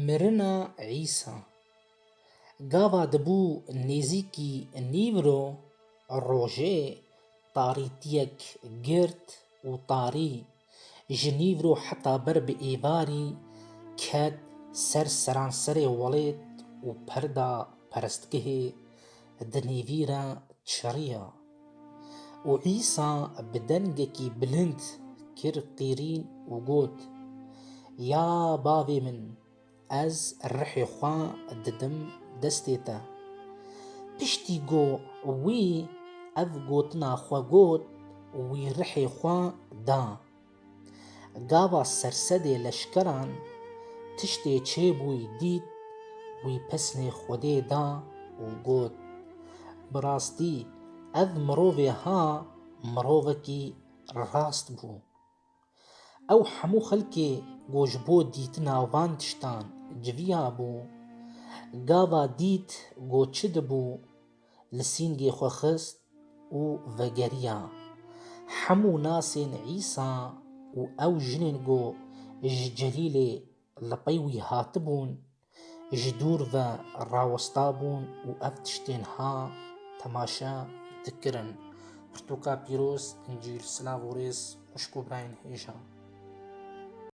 Mirina Îsa Gava dibû nêzîkî nîvro, rojê tarîtiyek girt û tarî ji nîvro heta ber bi êvarî ket ser seranserê welêt û perda perestgehê di nêvî re çiriya. Û Îsa bi dengekî bilind kir qîrîn û got, Ya Bavê min, ez rihê xwe didim destê te. Piştî ku wî ev gotina xwe got, wî rihê xwe da. Gava sersedê leşkeran tiştê çêbûyî dît, wî pesnê Xwedê da û got, Bi rastî ev mirovê ha mirovekî rast bû. Ew hemû xelkê ku ji bo dîtina van tiştan civiyabû, gava dît ku çi dibû Li sîngê xwe xist û vegeriya. Hemû nasên Îsa û ew jinên ku ji Celîlê li pey wî hatibûn, ji dûr ve rawestabûn û ev tiştên ha temaşe dikirin. Pirtûka pîroz, Încîl, silav û rêz xwişk û birayên hêja.